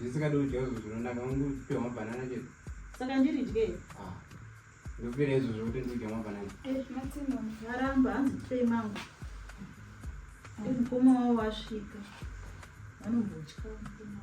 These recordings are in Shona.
ndisingadi kudya izvo zvinonaka ungupiwa mabhanana chete saka ndiri dye ah, ndopira izvo zvokuti ndidya mabhanana eh, aramba hanzi pei mangu eh, mukoma wavo wasvika vanombotya mukoma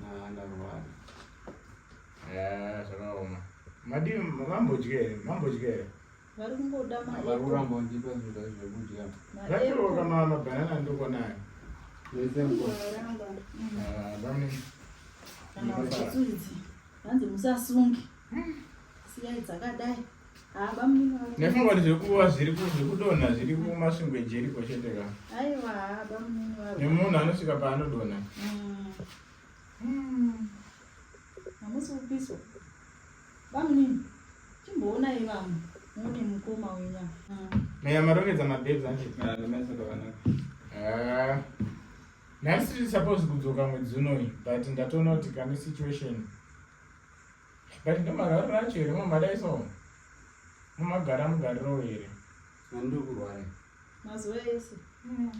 Nah, ndarwara. Eh, zvakaoma. Madii mambodye here? Mambodye here? Vari kungoda mari. Vari kuramba kundipa zvinhu zvekudya. Zvakiro kama mabanana ndoko nayo. Vese mko. Ah, bamni. Kana uchitsuridzi. Hanzi musasungi. Siyai dzakadai. nefunga kuti zvekuva zvirikudonha zviri kumasvingo ejeriko chete ka nemunhu anosvika paanodonha hamusi mm. hmm. kupiswa bamunini chimboonai vamwe mune mukoma wenya meya marongedza mabebs anje nhasi tiri suppose kudzoka mwedzi unoyi but ndatoona kuti kane situation but ndomarwaro racho here mamadai so mumagara mugariro here andokurwara mazuva ese mm.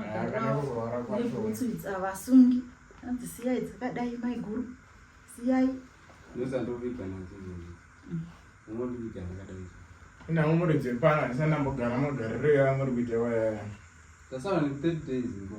akanekukurwara kwacho avasungi anzi siyai dzakadai maiguru siyai ndozandoviga nadzo mm. unoviga dzakadai inavo muri dzepana ndisandambogara magariro yava muri kuita wayaya tasara ne third days ngo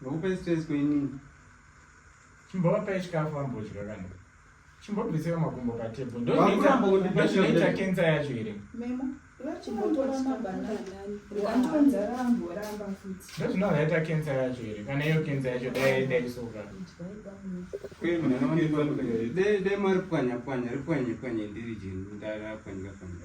Ndokupa stress kwenini. Chimbovapa chikafu vambodya kana. Chimbobvisira makumbo patable. Ndoita kenza yacho here? Memo. ndozvinozoita kensa yacho here kana iyo kensa yacho daisoka dai mari pwanya pwanya ripwanye pwanye ndiri jeni ndarapwanyika pwanya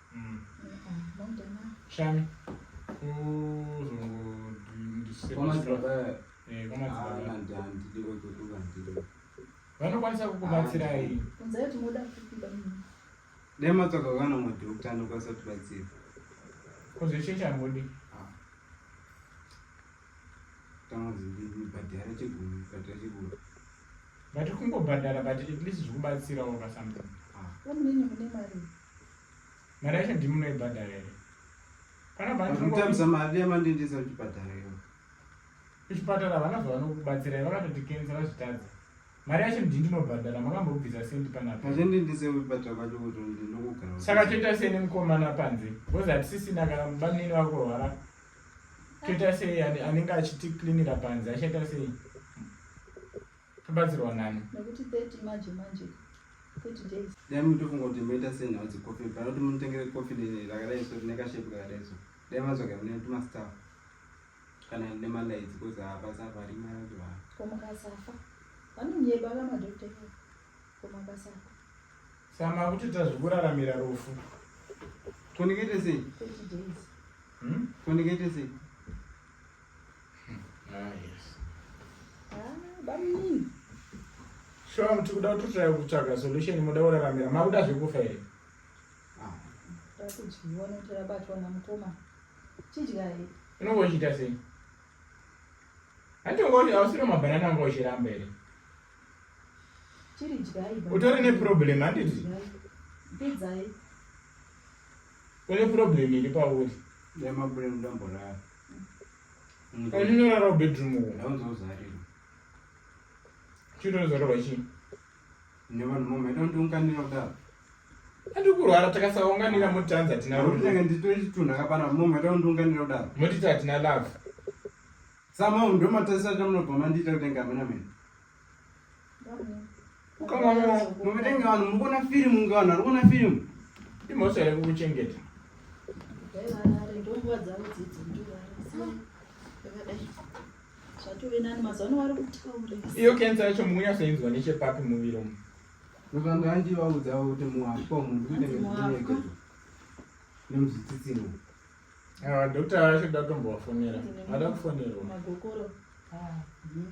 Shami. Vanokwanisa kukubatsirai. Dai matsvaka kana madhokta anokwanisa kubatsira. Kozveshe chambodi. Tamazibhadhara chegumi, bhadhara chegumi. But kungobhadhara but at least zvikubatsirawo pasambo. Ah. Vamune mune mari. mari yacho ndimunoibhadhara here panabamutamisa mari yamandendesa kuchipatara iyo kuchipatara havana zvavanokubatsirai vakatoti kensa vazvitadza mari yacho ndi ndinobhadhara makambobvisa sendi panapaaendendisekuchipatara kwacho kuti ndinokugara saka toita sei nemukomana panze bcause hatisisina kana mubanini vakurwara toita sei anenge achitiklinira panze achaita sei Tobatsirwa nani? Nekuti 30 manje manje. 30 days. Dai mutofunga kuti moita senhau dzekofi panoti munotengere kofi rakadai so rine kashepu kakadai so dai mazvaga mune tumastaff kana rine malaidzi kozi hapasa apa rima yacho ha komukasafa vanonyeba vamadokta komukasafa sama kuti tazvikuraramira rufu konekete sei konekete hmm? sei Sure, mti kuda kutotrai kutsvaga solution moda kuraramira makuda zvekufa here takudyiwa nokuti rabatwa namukoma chidyai unonge uchiita sei hantonge ausiro mabhanana anga uchiramba here chiri dyai utori neproblem handiti pidzai une problem iri pauri yamabrem dambo rayo Unorara bedroom uko. Ndaunza uzarirwa. Chiro uzarirwa chii? Nevanhu mama ita kuti unganira kudaro. Ati kurwara takasaunganira mutanza tina rudo. Ndinenge nditore chitunhu akapana mama ita kuti unganira kudaro. Motita tina love. Sama ndo matasisa tamunobva mandita kutenga amena mena. muvetenga vanhu mukuona firimu kunge vanhu vari kuona firimu imhosva here kukuchengeta iyo kensa yacho munyasoinzwa nechepapi muviri umu nokanga andivaudzawo kuti muhapwa munhu kuitengeeke nemuzvitsitsino awa ah, dokta vacho datombovafonera vada kufonerwa ah, hmm.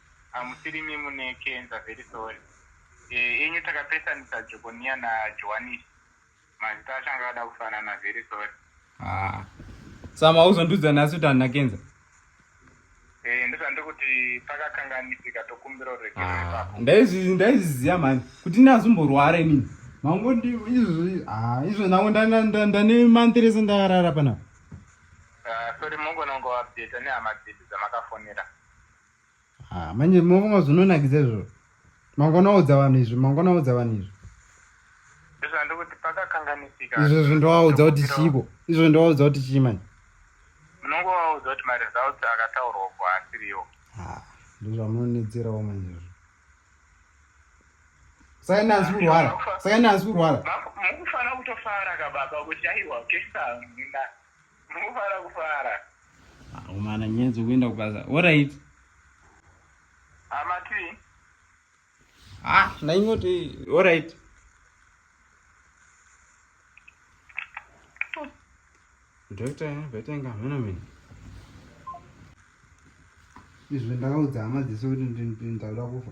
Hamusirimi mune kenza very sorry eh, enyu takapesanisa Jokoniya na Johanisi mazita acho anga akada kufanana very sorry ah. Sama uzondiudza nhasi kuti handina kenza eh, ndozvandiri kuti pakakanganisika tokumbira uregerero ah. ipapo Ndaizvi- ndaizviziva mhani kuti ini hazimborwara inini mango ndi izvi ah, izvo nango ndana- nda- ndane month rese ndakarara panapa Ah, sorry mungonongo update nehama dzedu dzamakafonera Ah, manje mavonga zvinonakidza izvozvo mangona udza vanhu izvi mangona udza vanhu izvi izvo zvo ndovaudza kuti chiiko izvo ndovaudza kuti chii manje munongovaudza kuti maresults akataurwa ko asiriwo ah, ndozvamunonetserawo manje izvo saka ina asi kurwara saka ina asi kurwara mukufanira kutofara kababa kuti aiwa kesa muna Mukufara kufara. Akomana nyenzi kuenda kubasa. What are it? Amati. Ah, ndaingoti what are it? Doctor, better nga mena mena. Izvo ndakaudza hama dzese kuti ndindakuda kufa.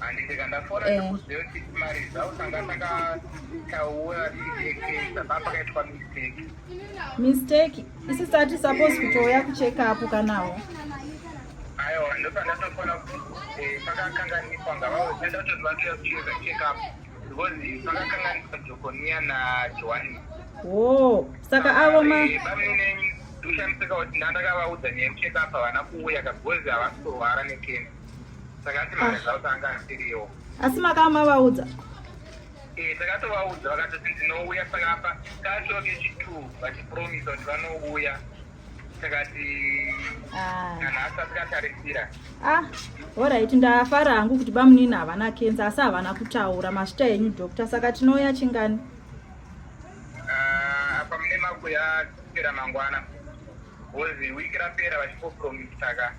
handiseka ndafona eh. ndikuziva kuti mari dzausanga takataura tichekesa papakaitwa mistake mistake isi sati suppose kutouya kucheka apo kanawo aiwa ndopandatofona kuti eh, pakakanganiswa ngavaoda ndatoti vatoya kucheka checkup because pakakanganiswa jokoniya najohani wo saka avo ma eh, bamine ndoshandiseka kuti ndandakavaudza nyaya yekucheka apa havana kuuya kagozi havasi kurwara nekena asi makava mavaudza eh, takatovaudza vakatoti ndinouya pakapa kachoke chitu vachipromisa kuti vanouya takati ah. kana asati katarisira ah, orit ndafara hangu kuti bamunini havana kenza asi havana kutaura masvita enyu doctor saka tinouya chingani ah, apa mune makuya kupera mangwana bcoz week rapera vachipopromisa ka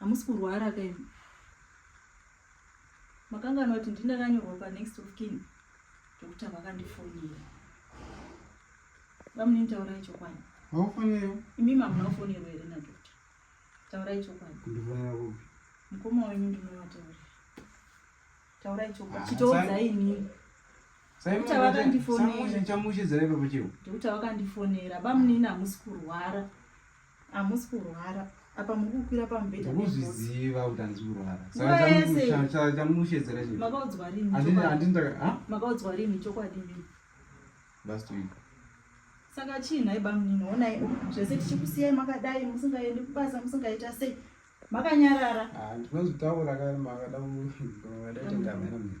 hamusi kurwara ka imi makangana kuti ndindakanyorwa panext of kin zvekuti havakandifonera vamunini taurai chokwadi haufonero imi mamuna kufonerwa here nadokta taurai chokwadi kundifonera kupi mukoma wenyu ndinovataura taurai chokwadi ah, chitoudzai inini kuti havakandifonera ndekuti havakandifonera bamunini hamusi kurwara hamusi kurwara apa muri kukwira pamubhedha kuzviziva kuti handisi kurwara sakachamushedzera chimakaodzwa rinimakaodzwa rini chokwadi mii last week saka chii nhai bamunini onai zvese tichikusiyai makadai musingaendi kubasa musingaita sei makanyarara ah, ndinozvitaura kare makada kuadaitengamera mii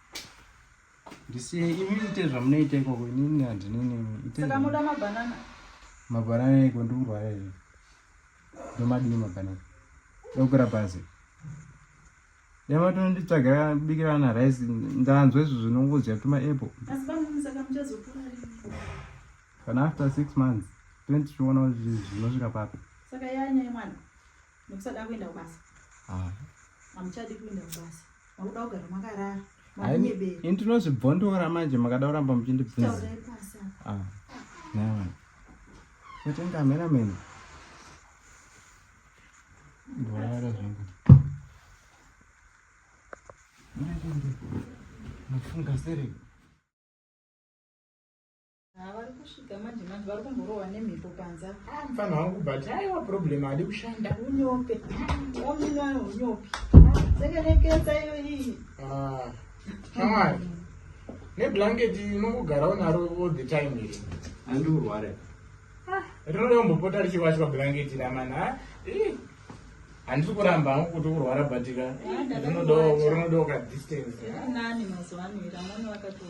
ndisiye imi ite zvamunoita ikoko inini handinenimsaka moda mabhanana mabhanana iko ndikurwara izvi ndomadii mabhanana ndokura bhazi yamatononditsvagira bikirana rice ndanzwa izvi zvinongozya tuma apple kana after six months tinotichiona kuti zvinosvika papi saka yanyaya mwana Nekusada kuenda kubasa. Ah. Hamuchadi kuenda kubasa. Makuda kugara makarara. Ini tinozvibvondora manje makada kuramba muchindibvunza. Taurai pasi apa. Ah. Nawa. Kutenga mera mena. Bora zvangu. Mwana ndi. Nafunga sere. Ah, vari kusvika manje manje vari kumborohwa nemhepo panza ah, mfana wangu but aiwa problem hadi kushanda unyope wamunwana unyope sekerekesa iyo iyi ah, shamwari neblanket unongogara unaro all the time here handi urware rinoda kumbopota richiwachwa blanket ramana handisi kuramba hangu kuti kurwara batika rinodawo kadistance nani mazuva ano ira mwana wakatoa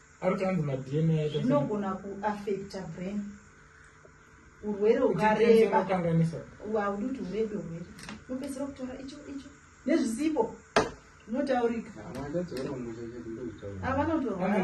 zvinogona kuaffecta brain urwere ukareba haudi kuti urebe urwere unopedzisira kutora icho icho nezvisipo zvinotaurika vanotorwaa